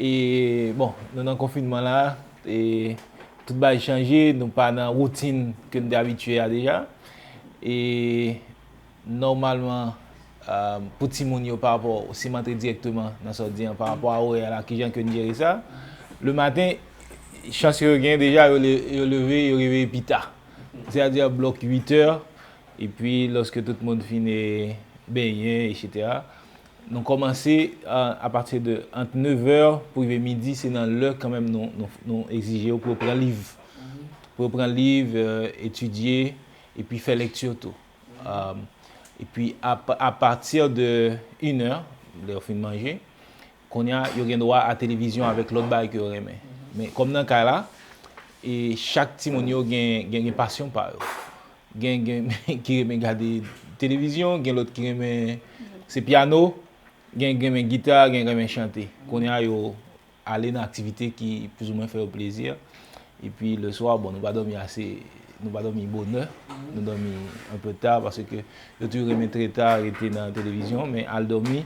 E bon nou nan konfinman la e tout bagay chanje nou pa nan woutin ke nou te abitye a deja e nòmalman pou timoun yo parapò si m antre dirèkteman nan sa w di an parapò a orè la kijan ke n jere sa le maten chans yo gen deja yo leve yo reveye pi ta se a di a blòk 8 è epi lòske tout moun fin benyen ect Nou kòmanse a pati de ant 9 è pou rive midi, se nan lè kanmenm nou egzije yo pou yo pran liv. Pou yo pran liv, etidye, epi fè lekti tou. Epi a pati de 1 è, lè yo fin manje, kounye a yo gen dwa a televizyon avèk lòt bagay ke yo renmen. Men kòm nan kay la, chak timoun yo gen pasyon pa yo. Gen gen ki renmen gade televizyon, gen lòt ki renmen se pyano, gen ki renmen gita, gen ki renmen chante. Kounye a yo ale nan aktivite ki plouzoumen fè yo plezi. E pi leswa, bon nou pa dòmi ase, nou pa dòmi bonè, nou dòmi anpe ta paske yo toujou renmen trè ta rete nan televizyon men al dòmi.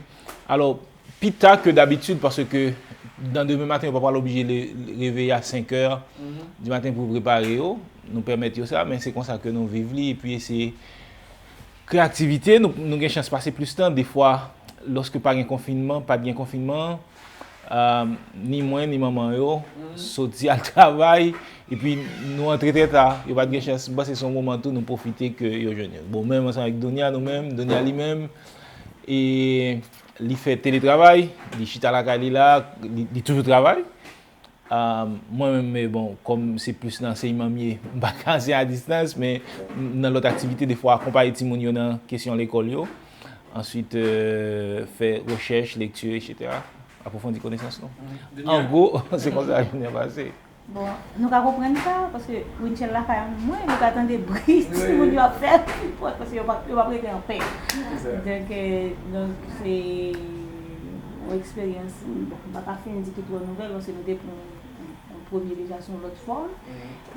Alò, Pi ta ke dabitid paske nan demen maten yo pa pral oblije reveye a 5 è di maten pou prepare yo. Nou pèmèt yo sa men se konsa ke nou viv li epi se kreyativite nou. Nou gen chans pase plis tan defwa lòske pa gen konfinman, pat gen konfinman ni mwen ni manman yo soti al travay epi nou antre trè ta. Yo pat gen chans. M panse se yon moman tou nou pwofite ke yo jwenn yo. Bon menm ansanm avèk Donya nou menm, Donya li menm e. Li fè teletravay, li chita lakay li la, li toujou travay. Mwen menm me bon, kòm se plis nan ansèyman m ye, m pa ka anseye a distans, men nan lòt aktivite defwa akonpaye timoun yo nan kesyon lekòl yo. Answit, fè rechèch, lekti, etc. Apwofondi konesans nou. An gwo, se konsa jounen pase. Bon, nou ka konprann sa, paske Winchell la kay anpil mwen, nou ka tande bri timoun yo ap fè anpil pòt, paske yo pap rete anpè. Donk, donk se yon eksperyans, bon, m pa ka fin di ki twò nouvèl, paske nou te pran yon premye deja sou yon lòt fòm,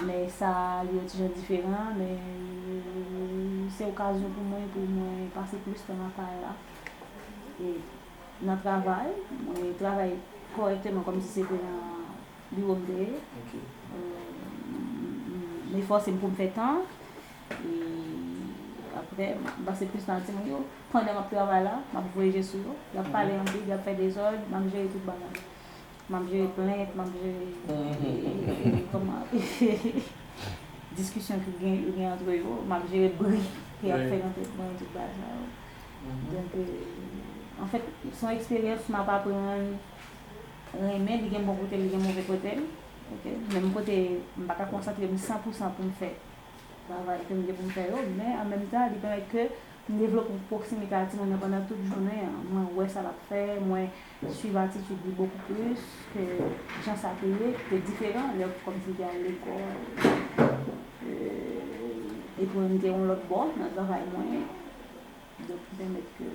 men sa li yon ti jan diferan, men se okazyon pou mwen pou mwen pase plis tan nan kay la, e nan travay, mwen travay kòrèkteman kòmsi se te nan. Li regrè. M efòse m pou m fè tan. E aprè, m pase plis tan ak timoun yo. Pandan m ap travay la, m ap voye je sou yo. Y ap pale anpil, y ap fè dezòd. M ap jere tout bagay. M ap jere plent, m ap jere kòman diskisyon ki gen antre yo. M ap jere bri ki ap fèt nan tèt mwen, tout bagay sa yo. Donk, anfèt, se yon eksperyans m ap aprann. renmen li gen bon kotel li gen move kotel ok menm kote m paka konsantrem san pou san poum fè travay kem gen poum fè yo men an menm tan li pèmèt ke m devlope yon pwoksimite a timoun nan pandan tout jounen an mwen wè sa lap fè mwen swiv atitid li bokou plis ke jan sa te ye ki te diferan lè kòm si m te al lekòl epi mwen m te yon lòt bò nan travay mwen donk ki pèmèt ke.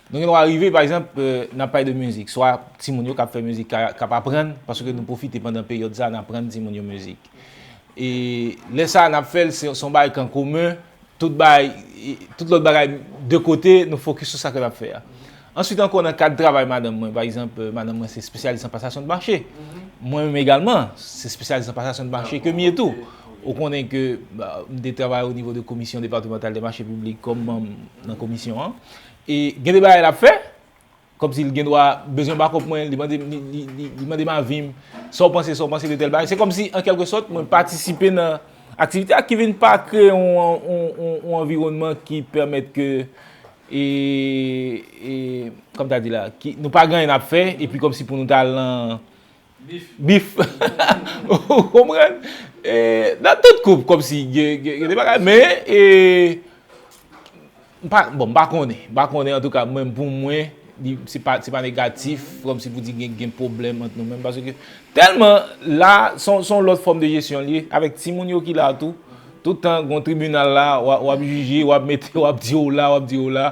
Nou gen dwa rive, pa egzanp, n ap pale de mizik, swa timoun yo k ap fè mizik, k ap aprann, paske nou pwofite pandan peryòd sa a n aprann timoun yo mizik. E lè sa a n ap fè l, se yon bagay ki an komen, tout bagay, tout lòt bagay de kote, nou fokis sou sa ke n ap fè a. Answit ankò, nan kad travay madanm mwen, pa egzanp, madanm mwen se espesyalis an pasasyon de mache, mwen menm egalman, se espesyalis an pasasyon de mache ke m ye tou. Ou konnen ke m te travay onivo de komisyon departemantal de mache piblik kòm manm nan komisyon an. E gen de bagay l ap fè, kòm si l gen dwa bezwen bakòp mwen, li mande m, li mande m avi m, sa w panse, sa w panse de tèl bagay. Se kòm si an kèlke sòt mwen patisipe nan aktivite a ki vin pa kreye yon anviwònman ki pèmèt ke e, e, kòm ta di la, ki nou pa gen anyen n ap fè, epi kòm si pou nou ta lan, Bif. Ou konprann? Nan tout koup kòm si gen de bagay men e m pa bon m pa konnen. M pa konnen antouka mwen pou mwen se pa se pa negatif kòm si pou di gen gen pwoblèm ant nou menm paske tèlman la son son lòt fòm de jesyon li avèk timoun yo ki la tou toutan gon tribinal la wap jije wap mete wap di w la wap di w la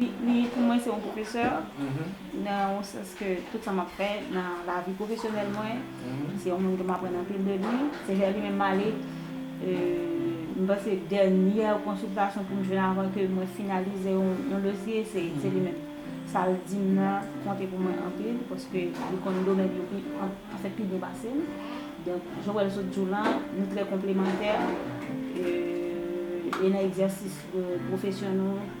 Li pou mwen se yon pwofesè nan yon sans ke tout sa map fè nan lavi pwofesyonèl mwen, se yon moun ke m aprann anpil de li, se vè li menm m ale, m panse dènyè konsiltasyon pou m jwenn avan ke mwen finalize yon dosye se li menm. Sa l di m nan konte pou mwen anpil paske li konn domèn yo pi anfèt pi byen pase m. Donk jan wè l sot di w lan nou trè konplemantè e nan egzèsis pwofesyon nou.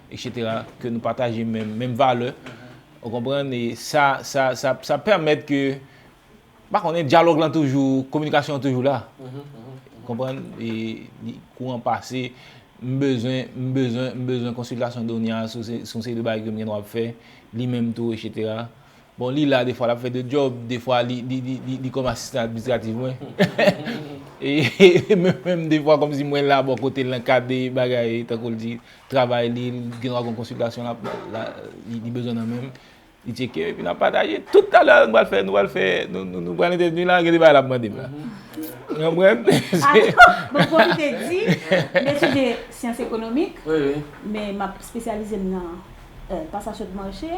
Etc ke nou pataje menm menm valè ou konprann e sa sa sa sa pèmèt ke pa konnen dyalòg lan toujou kominikasyon an toujou la ou konprann e kouran pase m bezwen m bezwen m bezwen konsiltasyon Donia sou se sou se de bagay ke m gen dwa ap fè li menm tou etc. Bon li la defwa lap fè 2 djòb defwa li kòm asistan administratif mwen e mwen menm defwa kòmsi mwen la bò kotel nan kad de bagay tankou l di travay li gen dwa gon konsiltasyon lap li bezwen nan menm li tcheke epi nap pataje tout talè nou pral fè nou pral fè nou pral entèvni la gen de bagay lap mande m la ou konprann bon fòk m te di m etidye syans ekonomik men map spesyalize m nan. pa sa sot manche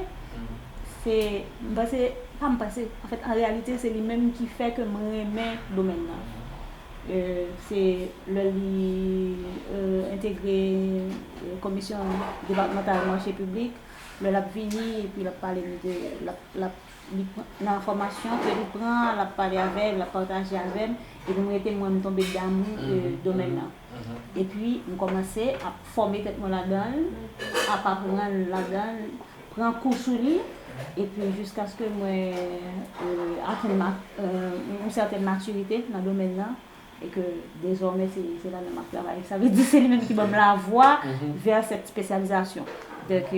se m panse pa m panse an fèt an reyalite se li menm ki fè ke m renmen domèn nan se lè li entegre komisyon depatmantal manche piblik lè l ap vini epi l ap pale nou de l ap nan fòmasyon ke li pran l ap pale avè l ap pataje avè m epi m rete mwen m tonbe damou domèn nan. Epi m kòmanse ap fòme tèt mwen ladan l, ap aprann ladan l, pran kou sou li, epi jiskaske mwen atenn yon sèten matirite nan domèn nan, e ke dezòmè se ladan m ap travay. Sa vle di se li menm ki ban m lavwa vè sèt spesyalizasyon. Donk,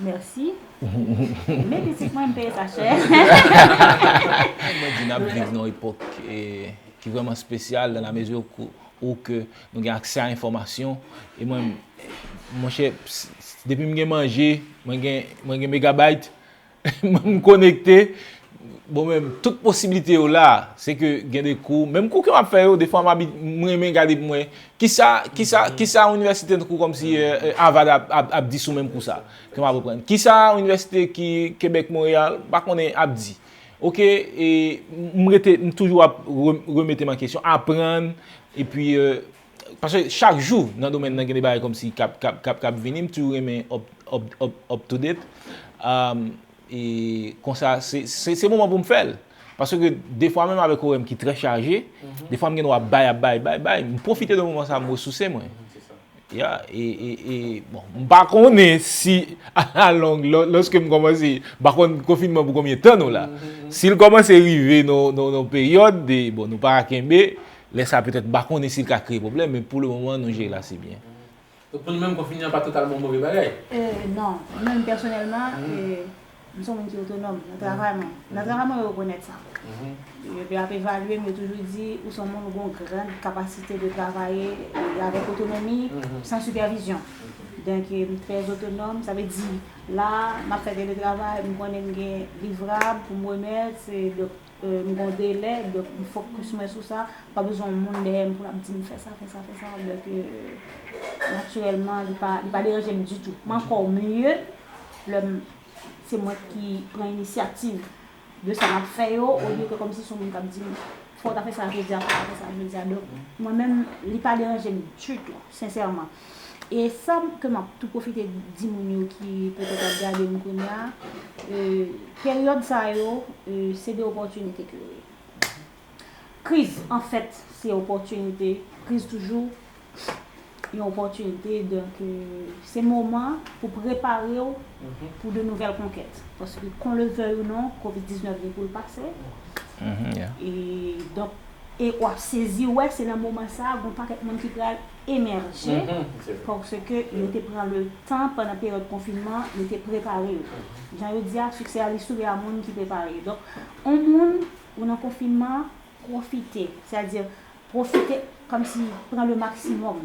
mèsi. Men pitit mwen, m peye sa chè. Mwen di n ap viv nan yon epòk ki vrèman spesyal, dan la mezi Ou ke nou gen aksè a enfòmasyon e mwen monchè depi m gen manje mwen gen mwen gen megabayt mwen m konekte bon men tout posibilite yo la se ke gen de kou menm kou ke m ap fè yo defwa m m renmen gade pou m wè kisa kisa kisa inivèsite tankou kòmsi Avad ap di sou menm kou sa ke m ap aprann kisa inivèsite ki Quebec Montreal m pa konnen ap di. Ok m rete m toujou ap remete m an kesyon aprann epi paske chak jou nan domèn nan gen de bagay kòmsi kap vini m toujou renmen up to date konsa se moman pou m fè l paske defwa menm avèk orè m ki trè chaje defwa m gen dwa bay ap bay bay bay m pwofite de moman sa m resouse mwen Ya e e e bon m pa konnen si a la long loske m komanse m pa konn konfinman pou konbyen tan nou la si l komanse rive nan yon peryòd de bon nou pa ra kenbe lè sa petèt m pa konnen si l ka kreye pwoblèm men pou le moman nou jere l ase byen. Donk pou nou menm konfinman pa totalman yon move bagay? Ee non mwen menm pèsonèlman ee. M se yon moun ki otonòm nan travay mwen. Nan travay mwen yo rekonèt sa. Yo ap evalye m, yo toujou di ou se yon moun ou gen yon gran kapasite de travaye avèk otonomi, san sipèvizyon. Donk m trè otonòm, sa vle di la a m ap fè teletravay, m konnen m gen livrab pou m remèt. M gon delè donk m focus mwen sou sa, pa bezwen yon moun dèyè m pou lap dim fè sa fè sa fè sa donk naturèlman li pa li pa deranje m ditou. M ankò mye lè m se mwen ki pran inisyativ de sa map fè yo olye ke kòmsi son moun kap dim fòw ta fè sa jodia fòw ta fè sa jodia donk mwen menm li pa deranje m ditou sensèman. E sa ke map tou pwofite di moun yo ki petèt ap gade m kounye a, peryòd sa yo se de opòtinite ke yo ye. Kriz an fèt se opòtinite, kriz toujou yon opòtinite, donk se moman pou prepare w pou de nouvèl konkèt. Paske kon le vèy ou non, kovid 19 gen pou l pase, e donk e wap sezi wè se nan moman sa gon pakèt moun ki pral. emèje paske yo te pran le tan pandan peryòd konfinman an, yo te prepare yo. Jan yo di a, siksè a li souri a moun ki prepare yo. Donk, on moun, ou nan konfinman, pwofite. Sètadi, pwofite kòmsi pran le maksimòm.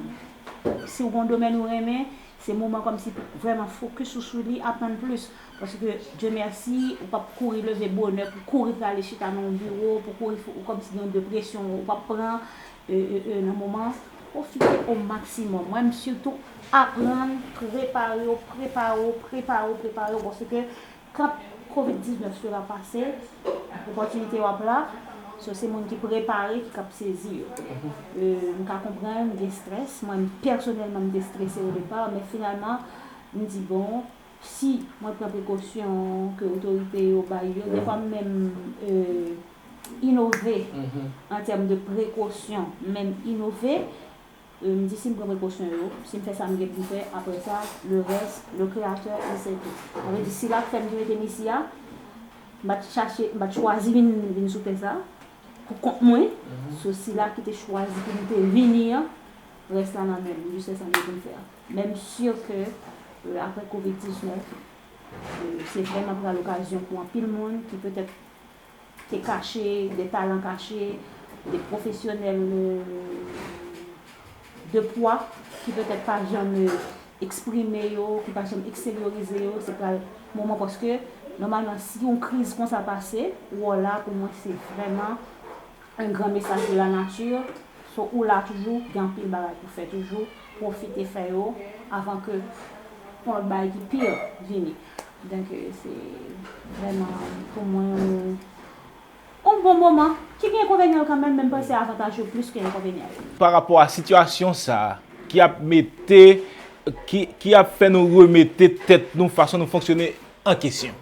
Si ou gen yon domèn ou renmen, se moman kòmsi pou vrèman fokis ou sou li, aprann plis. Paske, Dye mèsi, ou p ap kouri leve bonè pou kouri prale chita nan yon biwo, pou kouri, ou kòmsi gen yon depresyon ou p ap pran. ee nan moman an pwofite o maksimòm wè m sitou aprann prepare w prepare w prepare w prepare w paske quand covid 19 sera pase opòtinite yo ap la so se moun ki prepare ki kap sezi yo ee m ka konprann gen strès mwen pèsonèlman m te strese o depar men finalman m di bon Si mwen pran prekosyon ke otorite yo bay yo, defwa m menm inove an tèm de prekosyon, m menm inove, m di si m pran prekosyon yo, si m fè sa m gen pou m fè, aprè sa, le reste, le Créateur il sait tout. Sa vle di si l ap fè m ki mete m isi a, m pa t chache, m pa t chwazi vin sou tè sa pou kont mwen, se Sila ki te chwazi pou m te vini an, rès la nan men l, m jis fè sa m gen pou m fè a. Men m sur ke apre covid 19 se vrèman pral okazyon pou anpil moun ki petèt te kache, de talan kache, de pwofesyonèl de pwa ki petèt pa janm eksprime yo, ki pa janm eksteryorize yo, se pral moman paske nòmalman si yon kriz konsa pase, wòl la pou mwen se vrèman Un grand message de la nature so ou la toujou gen anpil bagay pou fè toujou profite fè yo avan ke yon lot bagay ki pire vini donc se vrèman pou mwen yon bon moman ki gen enkonvenyan l kanmenm men m panse avantaj yo plis ke enkonvenyan yo. Pa rapò a sitiyasyon sa ki ap mete ki ap fè nou remete tèt nou fason nou fonksyone an kesyon.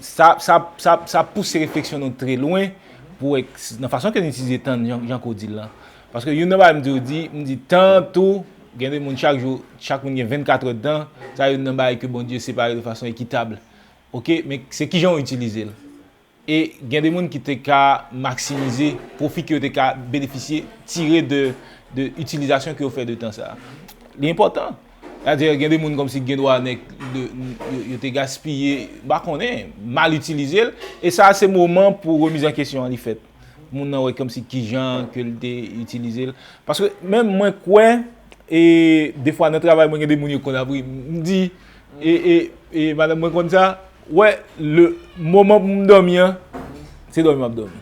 Sa pouse refleksyon nou tre lwen pou wè nan fason ke nou itilize tan nou jan ke w di l lan. Paske youn nan bagay m toujou di, m di tan tou gen de moun chak jou, chak moun gen 24 è tan, sa youn nan bagay ke Bondye separe de fason ekitab. Ok, men se kijan w itilize l. E gen de moun ki te ka maksimize pwofi ke yo te ka benefisye, tire de itilizasyon ke yo fè de tan sa a. Li enpòtan. Sètadi, gen de moun kòmsi gen dwa nèk yo te gaspiye, m pa konnen, mal itilize l. E sa a se moman pou remiz an kesyon an li fèt. Moun nan wè kòmsi ki jan ke l te itilize l. Paske menm mwen kwè, e defwa nan travay mwen gen de moun yo konn ap ri, m di. E madanm mwen konn sa, wè le moman pou m dòmi an, se dòmi m ap dòmi.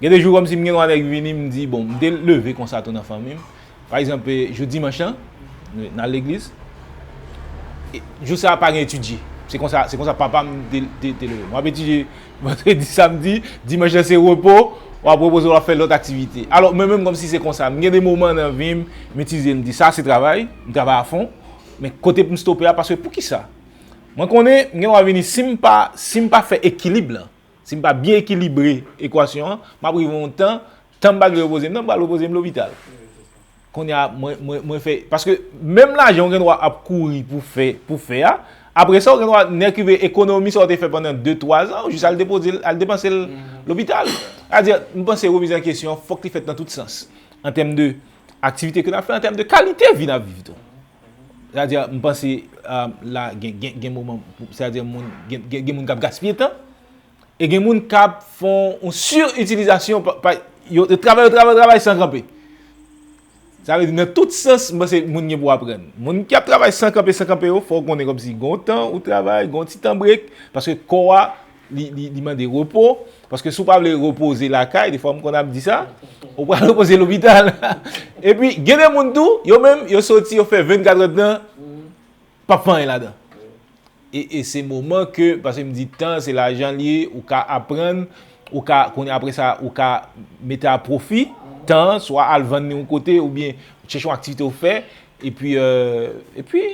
Gen de jou kòmsi m gen yon bagay ki vini m di bon, m te leve konsa tou nan fanmi m. Pa egzanp jou dimanch lan, n al legliz. Jou sa a pa gen etidye. Se konsa, se konsa papa m te leve m. W ap etidye vandredi, samdi, dimanch lan se repo, w ap repoze w ap fè lòt aktivite. Alò mwen menm kòmsi se konsa. M gen de moman nan vi m, m itilize m di sa se travay, m travay a fon. Men kote pou m stope a paske poukisa? Mwen konnen m gen dwa vini si m pa si m pa fè ekilib lan, si m pa byen ekilibre ekwasyon an, m ap rive yon tan, tan m pa dwe repoze m nan m pral repoze m lopital. Kounye a mwen mwen mwen fè paske menm lajan ou gen dwa ap kouri pou fè pou fè a, apre sa ou gen dwa nèk rive ekonomi sa ou te fè pandan de twa zan ou jis al depoze l al depanse l lopital. Sa vle di m panse remiz an kesyon fòk li fèt nan tout sans an tèm de aktivite ke n ap fè an tèm de kalite vi n ap viv tou. Sa vle di, m panse la gen moman, sa vle di moun, gen moun k ap gaspiye tan, e gen moun k ap fè yon sur-itilizasyon, yo travay, yo travay, yo travay san kanpe. Sa vle di nan tout sans, m panse moun gen pou aprann. Moun ki ap travay san kanpe, san kanpe yo, fò w konnen kòmsi gen yon tan ou travay, gen yon ti tan brek, paske kò a. Li mande repo, paske si w pa vle repoze lakay, defwa m konn ap di sa, ou pral repoze lopital. E pi gen de moun tou, yo menm yo soti yo fè 24 èd tan, p ap fè anyen ladan. E se moman ke, paske m di tan se lajan li ye, ou ka aprann, ou ka konnen apre sa, ou ka mete a pwofi, tan, swa al vann li yon kote, ou byen chèche yon aktivite ou fè, e pi, e pi,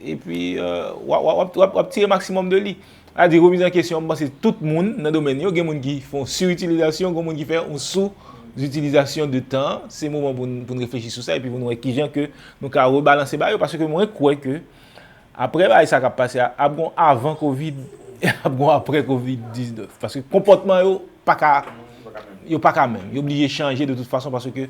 e pi w ap tire maksimòm de li. A di remiz an kesyon, m panse tout moun nan domèn yo gen moun ki fè yon siritilizasyon, gen moun ki fè yon sou zitilizasyon de tan an, se moman pou nou reflechi sou sa epi pou nou wè kijan ke nou ka rebalanse bagay yo paske mwen kwè ke aprè bagay sa k ap pase a ap gen yon avan kovid e ap gen yon aprè kovid 19 paske konpòtman yo pa ka yo pa ka menm yo blije chanje de tout fason paske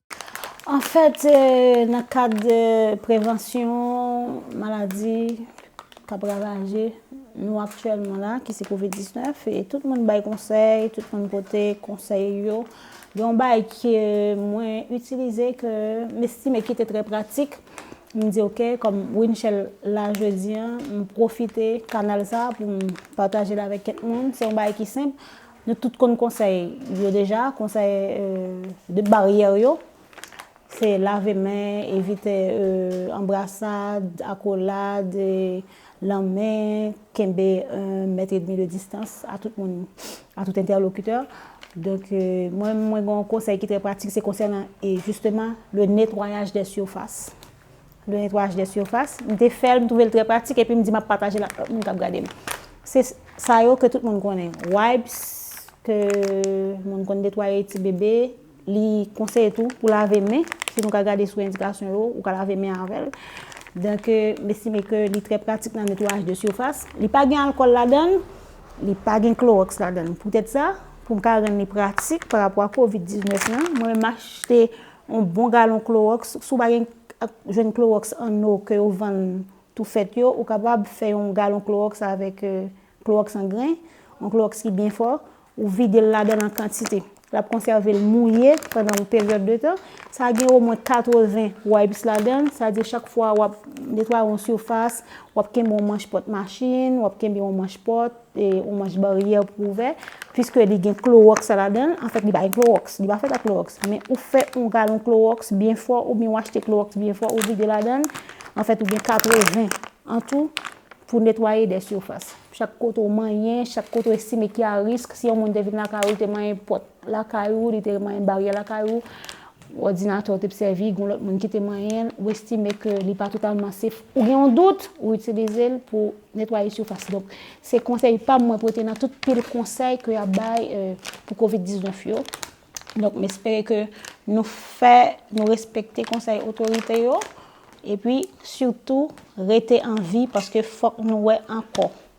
Anfèt, nan kad prevansyon maladi k ap ravaje nou aktyèlman la, ki se kovid 19, e tout moun bay konsèy, tout moun pote konsèy yo, gen yon bagay ke mwen itilize, ke m estime ki te trè pratik, m di ok, kòm Winchell la jodi an, m pwofite kanal sa pou m pataje l avèk kèk moun, se yon bagay ki senp, Nou tout konn konsèy yo deja, konsèy de baryè yo. Se lave men, evite anbrasad, akolad, lanmen, kenbe 1 mèt edmi de distans a tout moun, a tout entèlokitè. Donk, mwen mwen gen yon konsèy ki trè pratik, se konsènan jisteman le netwayaj dè sifas. de netwayaj de surfas, m te fè l, m twouve l trè pratik epi m di m ap pataje l ak lòt moun k ap gade m. Se sa yo ke tout moun konnen, wipes ke moun konn netwaye ti bebe, li konseye tou pou lave men, si nou ka gade sou endikasyon yo, ou ka lave men avè l. Donk m estime ke li trè pratik nan netwayaj de surfas. Li pa gen alkòl ladan l, li pa gen klorox ladan l. Poutèt sa, pou m ka rann li pratik parapò a covid 19 lan, mwen menm m achte On bon galon klorox, si w pa gen jwenn klorox an eau ke yo vann tou fèt yo, ou kapab fè yon galon klorox avèk klorox an gren, yon klorox ki byen fò, ou vide l ladan l an kantite. L ap konsève l mouye pandan yon peryòd de tan. Sa gen omwen 80 wipes ladan l, sa di chak fwa w ap netwaye yon sifas, w ap kenbe yon manch pòt machin, w ap kenbe yon manch pòt, E yon manch baryè pou ou ouvè, piske li gen klowòks la ladan l, anfèt li pa gen klowòks, li pa fèt ak klowòks, men ou fè yon galon klowòks byen fò oubyen ou achte klowòks byen fò ou vide ladan l, anfèt ou gen 80 an tou pou netwaye de sifas. Chak kote ou manyen, chak kote ou estime ki a risk, si yon moun te vin lakay ou, li te manyen pòt lakay ou, li te manyen baryè lakay ou, Òdinatè w t p sèvi, gon lòt moun ki te manyen l, ou estime ke li pa totalman sef, ou gen yon dout, ou itilize l pou netwaye sifas. Donk, se konsèy pa m mwen pote nan tout pil konsèy ke y ap bay pou Covid 19 yo. Donk, m espere ke nou fè, nou respekte konsèy otorite yo, epi sitou rete an vi paske fòk nou wè ankò.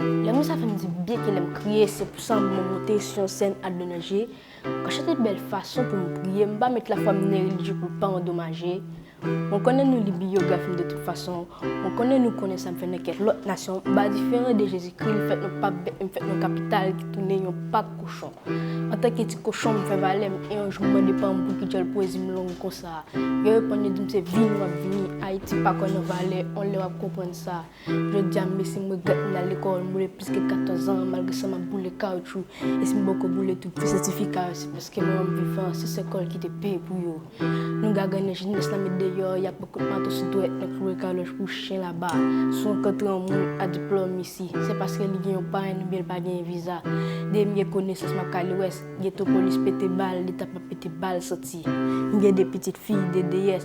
Lè mwen sa fè m di byen ke lè m kriye se pou san m mwen moute sou yon sèn ak de nan je, an chante bèl fason pou m priye m pa met lafwa m nerelijye pou l pa andomaje, Mwen konnen nou li biyography m de tout fason, mwen konnen nou konnen sa m fè nan kèk lòt nasyon, ba diferan de Jezikri, m fèt nan pap bèt, m fèt nan kapital ki tounen yon pak kochon. Antanke ti kochon m fè valè m e yon jou m mande pa m pouki djòl pwezi m long konsa. Yo reponn yo di m se vini w ap vini, Ayiti pa kwè nan valè, on lè w ap konprann sa. Jodia m mesi m regrèt m al lekòl m boule plis ke 14 ans malgre sa map boule kawoutchou e si m poko boule tout ti sètifika yo se paske m ranm vivan se sèl kòl ki te peye pou yo nou gagannen jenès la met deyò yap met kout mato sou dwèt nou kloure kalòj kou chen laba si w rankontre yon moun a diplòm isi se paske li gen yon parenn oubyen l pa genyen viza depi m gen konesans map ka li wès geto polis pete bal leta pap pete bal santi m gen 2 pitit fi 2 deyès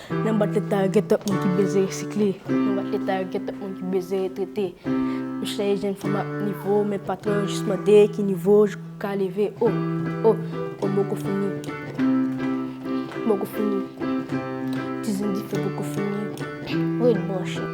Nan bat leta yo gen twòp moun ki beze resikle Nan bat leta yo gen twòp moun ki beze retrete Yo chèche jwenn fanm ak nivo Men patwon yo jis mande ki nivo w ka leve O, o, o Boko fini Boko fini Ti zen dife boko fini Ret branche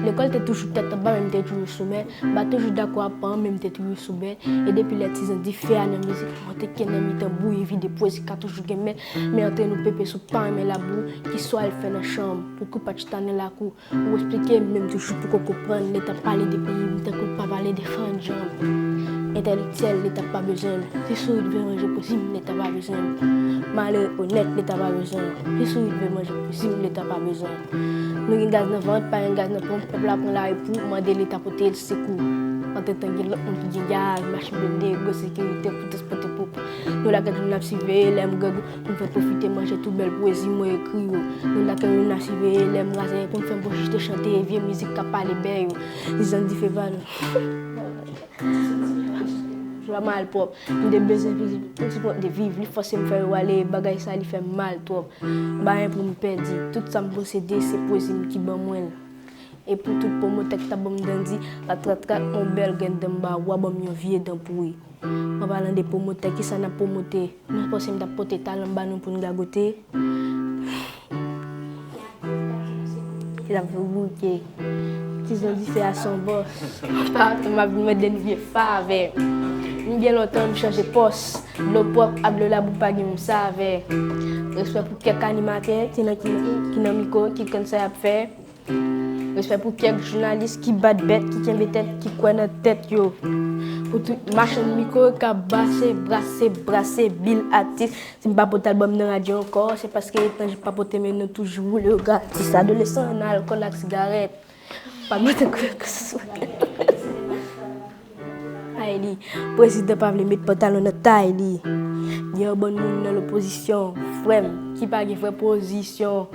Lekòl te toujou tèt anba men m te toujou sou mè M pa toujou dakò ak paran men m te toujou sou bè E depi lè ti zen dife a nan mizik mwen Teke nan mitan bouyi vide pwezi ka toujou gen mè. Men antre nou pepe si w pa renmen labou ki swa al fè nan chanm pou kou pa chita nan lakou ou esplike m men m toujou poko konprann leta pale de peyi m tankou l pa pale de han djanm entèlektyèl leta pa bezwen m si sourit vle manje posi m leta pa bezwen m malere onèt leta pa bezwen m si sourit vle manje posi m leta pa bezwen m nou gen gaz nan vant pa gen gaz nan ponp pèp la pran lari pou mande leta pote l sekou antretan gen lòt moun ki gen gaz machin blende gwo sekirite pou transpòte pou Nou la kèk jou nap siveye lèm gag pou m fè pwofite manje tout bèl pwezi mwen ekri yo Nou la kèk jou nap siveye lèm razè pou m fè bouch jete chante vye mizik kap pale bè yo Dizan dife va nan Jwa malpwòp M te bezwen viv Tout ti pwen de viv Li fòse m fè yo ale Bagay sa li fè m mal twòp M pa gen pou m pèdi Tout sa m posede Se pwezi m ki ban mwen l E pou tout pwomotè k ta ban m dandi Ratratrat on bèl gen dan m ba Wa ban m yon vye dan pouri Mwen palan de pwomotè kisa nap pwomote mwen panse mtap pote talanm banou poun gagote epi lap vin bouke ti zon dife a son bòs pa atanm map vin mande nou vye favè m gen lontan m chanje pòs dlo pwòp ak dlo labou pa gen menm savè respè pou kèk animatè ki nan mikwo ki konn sa yap fè. Respè pou kèk jounalis ki bat bèt, ki kenbe tèt, ki kwè nan tèt yo. Pou tout machann mikro kap base, brase, brase bil atis. Si m pa pote albòm nan radyo ankò, se paske etan jan pa pote men nou toujou woule yo gratis. Adolesan nan alkòl ak sigarèt, pa mete kòl ak sou. Tay li. Prezidan pa vle met pantalon nan tay li. Gen yon bann moun nan lopozisyon, frè m, ki pa gen vrè pozisyon.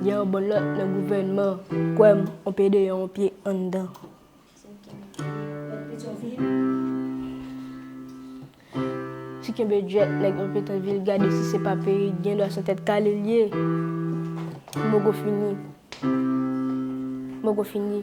Gen yon bann lòt nan gouvènman, kwè m, on pye deyò, on pye anndan. Ti kenbe djwèt nèg yon Petyonvil gade si se pa perik gen dwa son tèt kale l ye. Mogo fini. Mogo fini.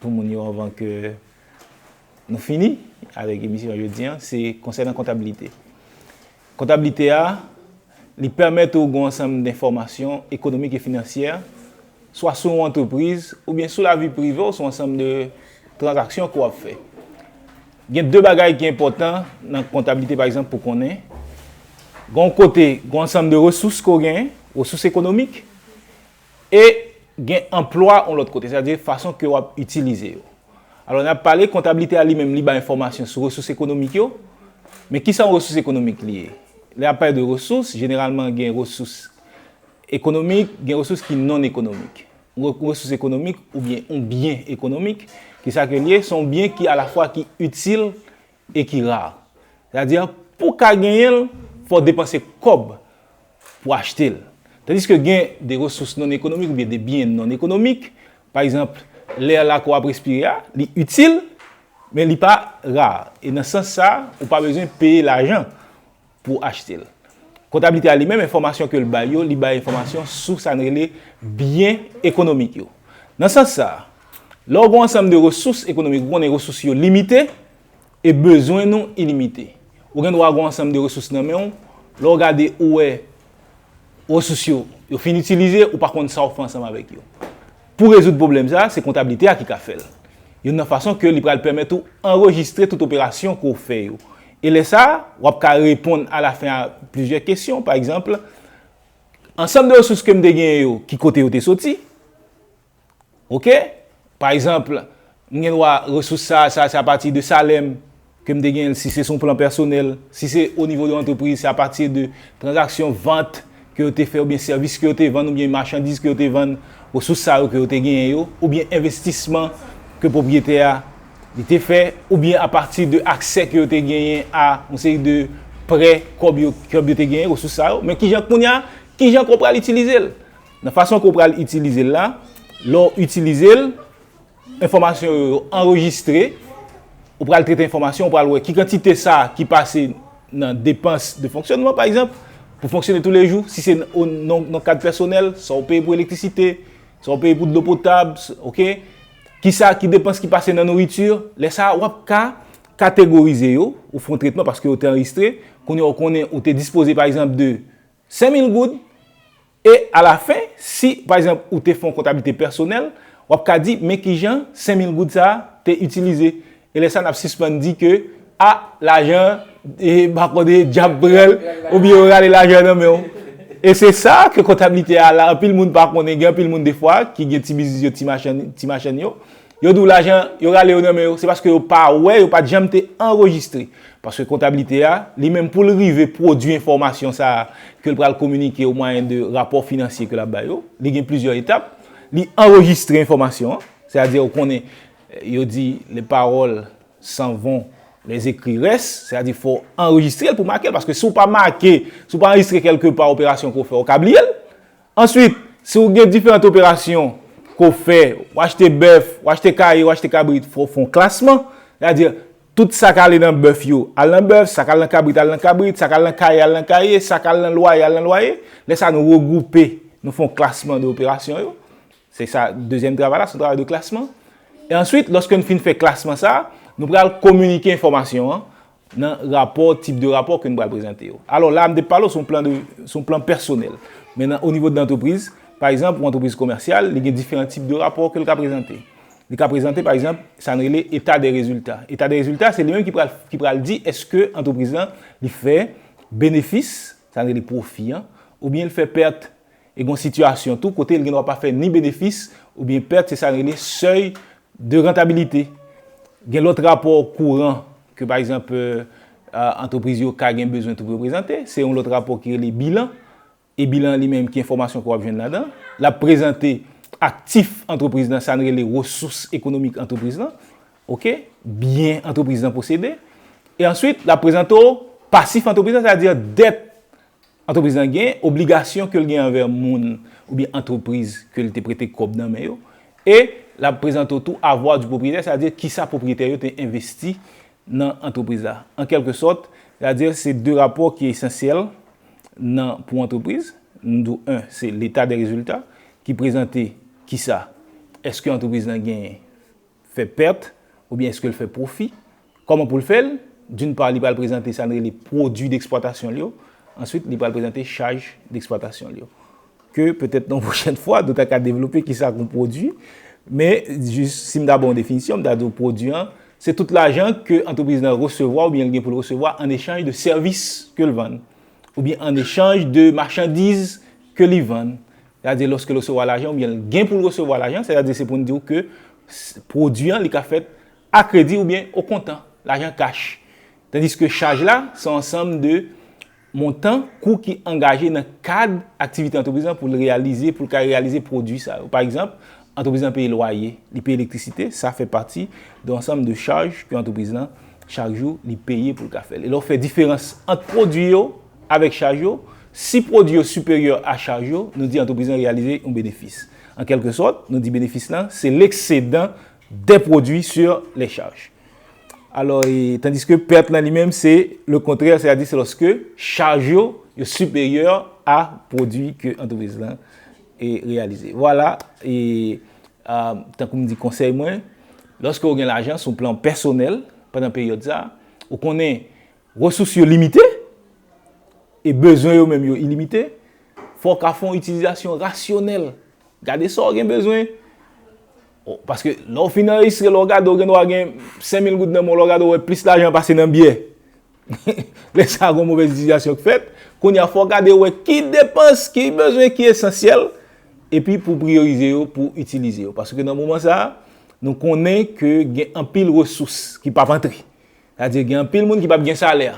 Pou moun yo anvan ke nou fini avèk emisyon jodi an, se konsènan kontabilite. Kontablite a, li pèmèt ou gon ansanm denfòmasyon ekonomik e finansyè, swa sou yon antrepriz, oubyen sou lavi prive w, sou ansanm de tranzaksyon ke w ap fè. Gen de bagay ki enpòtan nan kontablite pa egzanp pou konnen, gon kote, gon ansanm de resous ke w genyen, resous ekonomik, E gen anplwa yon lòt kote, sètadi fason ke w ap itilize yo. Alò n ap pale kontablite a li menm li bay enfòmasyon sou resous ekonomik yo, men kisa yon resous ekonomik li ye? Lè y ap pale de resous, jeneralman gen resous ekonomik, gen resous ki non ekonomik. Yon resous ekonomik oubyen yon byen ekonomik, kisa ke li ye? Se yon byen ki alafwa ki itil e ki rare. Sètadi, pou ka genyen l, fò w depanse kòb pou achte l. Tandiske gen de resous non-ekonomik oubyen de byen non-ekonomik, pa egzanp, lè la ke w ap respire a, li itil, men li pa rare. E nan sans sa, ou pa bezwen peye lajan. pou w achte l. Kontablite a li menm enfòmasyon ke l bay yo, li bay enfòmasyon sou sa n rele byen ekonomik yo. Nan sans sa, lè w gen yon ansanm de resous ekonomik, ou konnen resous yo limite e bezwen nou ilimite. Ou gen dwa gen yon ansanm de resous nan men w, lè w gade ou wè resous yo, yo fin itilize, ou pa konn sa w fè ansanm avèk yo. Pou rezoud pwoblèm sa, se kontablite a ki ka fè l. Youn nan fason ke li pral pèmèt ou anrejistre tout operasyon ke w fè yo. E lè sa, w ap ka reponn alafen a plizyè kesyon, pa egzanp, Ansanm de resous ke m te genyen yo, ki kote yo te soti? Ok. Pa egzanp, m gen dwa resous sa, sa, sa apati de salè m. ke m te genyen l, si se sou yon plan pèsonèl, si se o nivo de antrepriz, se apati de tranzaksyon vant ke yo te fè oubyen sèvis ke yo te vann oubyen machandiz ke yo te vann, resous sa yo ke yo te genyen yo, oubyen envestisman ke pwopriyetè a li te fè, oubyen apati de aksè ke yo te genyen a yon seri de prè, kòb yo, kòb yo te genyen, resous sa yo, men ki jan kounye a, ki jan ke w pral itilize l. Nan fason ke w pral itilize l la, lè w itilize l, Enfòmasyon yo anrejistre. Ou pral trete enfòmasyon, ou pral wè ki kantite sa ki pase nan depans de fonksyonman, pa egzanp, pou fonksyone tou le jou, si se nan kad pèsonèl, sa ou peye pou elektrisite, sa ou peye pou dlo potab, ok, ki sa ki depans ki pase nan nouriti, lè sa a, w ap ka kategorize yo, ou fon tretman paske yo te anrejistre, kounye a ou konnen ou te dispoze pa egzanp de 5 mil goud, E alafen, si, pa egzanp, ou te fè yon kontablite pèsonèl, w ap ka di, men ki jan senmil goud sa a te itilize. E lè sa a, n ap sispann di ke, a, lajan an, e, pa konn, e, dyab pran l, oubyen yo rale lajan an nan men w. E se sa a ke kontablite a la. Anpil moun pa konnen, gen anpil moun defwa ki gen ti biznis yo, ti machann, ti machann yo, Yo di w lajan yo rale yo nan men yo, se paske yo pa wè, yo pa t janm te anrejistre. Paske kontabilite a, li menm pou l rive pwodui enfòmasyon sa a ke l pral kominike o mwayen de rapò finansye ke l ap bay yo, li gen plizyè etap. Li anrejistre enfòmasyon an, se a di ou konnen yo di les paroles s'en vont, les écrits restent, se a di fò w anrejistre l pou w make l, paske si w pa make, si w pa anrejistre kèlke pa operasyon ke w fè, ou ka bliye l. Answit, si ou gen diferant operasyon ke ou fè, ou achte bèf, ou achte kaye, ou achte kabrit, fò ou fè yon klasman, sa di, tout sa k ale nan bèf yo, al nan bèf, sa k al nan kabrit, al nan kabrit, sa k al nan kaye, al nan kaye, sa k al nan lwaye, al nan lwaye, lè sa nou regwoupe, nou fè yon klasman de operasyon yo, se sa dezyèm travay la, se yon travay de klasman. E answit, lòske nou fin fè klasman sa, nou pral kominike enfòmasyon an. nan rapò, tip de rapò ke m pral prezante yo. Alò la a m te pale w sou yon plan de, sou yon plan pèsonèl. Men nan onivo de antrepriz, pa egzanp, yon antrepriz komèsyal, li gen diferan tip de rapò ke l ka prezante. Li ka prezante pa egzanp, sa n rele eta de rezilta. Eta de rezilta, se li menm ki pral, ki pral di eske antrepriz lan li fè benefis, sa n rele pwofi an, oubyen l fè pèt. E gen yon sitiyasyon tou kote l gen dwa pa fè ni benefis oubyen pèt, se sa n rele sèy de rantabilite. Gen lòt rapò kouran ke pa egzanp antrepriz yo ka gen bezwen tou pou yo prezante, se yon lòt rapò ki rele bilan. E bilan an li menm ki enfòmasyon ke w ap jwenn ladan? L ap prezante aktif antrepriz lan, sa n rele resous ekonomik antrepriz lan, ok, byen antrepriz lan posede. E answit l ap prezante w pasif antrepriz lan, sètadi dèt Antrepriz lan gen obligasyon ke l gen anvè moun oubyen antrepriz ke l te prete kòb nan men yo, e l ap prezante w tou avoir du propriétaire, sa di kisa pwopriyetè yo te envesti nan antrepriz la. An kèlke sòt, sa di se 2 rapò ki esansyèl nan pou antrepriz. Nou di w 1, se l'état des résultats ki prezante kisa, èske antrepriz lan genyen. fè pèt oubyen eske l fè pwofi, kòman pou l fè l, d'une part li pral prezante sa n rele pwodwi deksplwatasyon l yo, answit li pral prezante chaj deksplwatasyon l yo. Ke petèt yon pwochèn fwa nou ta ka devlope kisa k yon pwodwi, men jis si m ta ba w yon definisyon m ta di w pwodwi an se tout lajan ke antrepriz lan resevwa oubyen l gen pou l resevwa an echanj de sèvis ke l vann, oubyen an echanj de machandiz ke li vann, Sètadi lòske l resevwa lajan oubyen l gen pou l resevwa lajan, sètadi se pou n di w ke pwodui an li ka fèt a kredi oubyen o kontan, lajan kach. Tandiske chaj la se yon ansanm de montan, kou ki angaje nan kad aktivite antrepriz lan pou l reyalize, pou l ka reyalize pwodui sa yo. Pa egzanp, antrepriz lan peye lwaye, li peye elektrisite, sa fè pati de ansanm de chaj ke antrepriz lan chak jou li peye pou l ka fè l. E lè w fè diferans ant pwodui yo, Avèk chaj yo, si pwodui yo siperyè a chaj yo, nou di antrepriz lan reyalize yon benefis. An kèlke sòt, nou di benefis lan se leksedan dè pwodui sur lè chaj. Alò, tandiske pèt lan li menm se le kontrè, sètadi se lòske chaj yo, yo siperyè a pwodui ke antrepriz lan reyalize. Vwala, tankou m di konsèy mwen, lòske ou gen lajan sou plan pèsonèl pandan peryòd sa, ou konnen, Resous yo limite, e bezwen yo menm yo ilimite, fò w ka fè yon itilizasyon rasyonèl. Gade sa w gen bezwen, paske lè w fin anrejistre, lè w gade w gen dwa gen 5000 goud nan men w, lè w gade w wè plis lajan pase nan byè. Lè sa a gen yon movèz itilizasyon ki fèt. Kounye a fò w gade w wè ki depans, ki bezwen ki esansyèl, epi pou w priyorize yo pou w itilize yo. Paske nan moman sa a, nou konnen ke gen anpil resous ki p ap antre. Sa di gen anpil moun ki pap gen salè.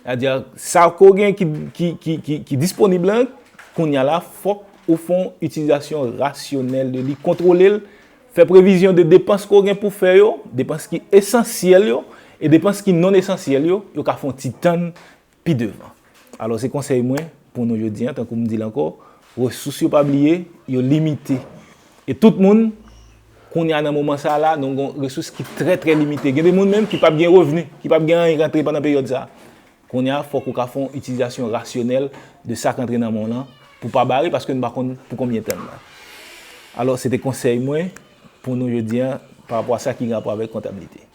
Sa di sa ke gen ki disponib lan, kounya la fok ou fon itilizasyon rasyonèl de li, kontwole l, fè previzyon de depans ke w gen pou fè yo, depans ki esansyèl yo, e depans ki non esansyèl yo, yo ka fon ti tann pi devan. Alò se konsèy mwen pou nou jodi an, tankou m di l ankò, resous yo pa bliye, yo limite. E tout moun, kounya nan moman sa la, nou gon resous ki trè trè limite. Gen de moun menm ki pap gen revni, ki pap gen anyen k antre pandan peryòd sa. Kounya fòk ou ka fè yon itilizasyon rasyonèl de sa k antre nan men w lan pou w pa bare paske nou pa konn pou konbyen tan nan. Alò se te konsèy mwen pou nou jodi an parapò a sa ki gen rapò avèk kontablite.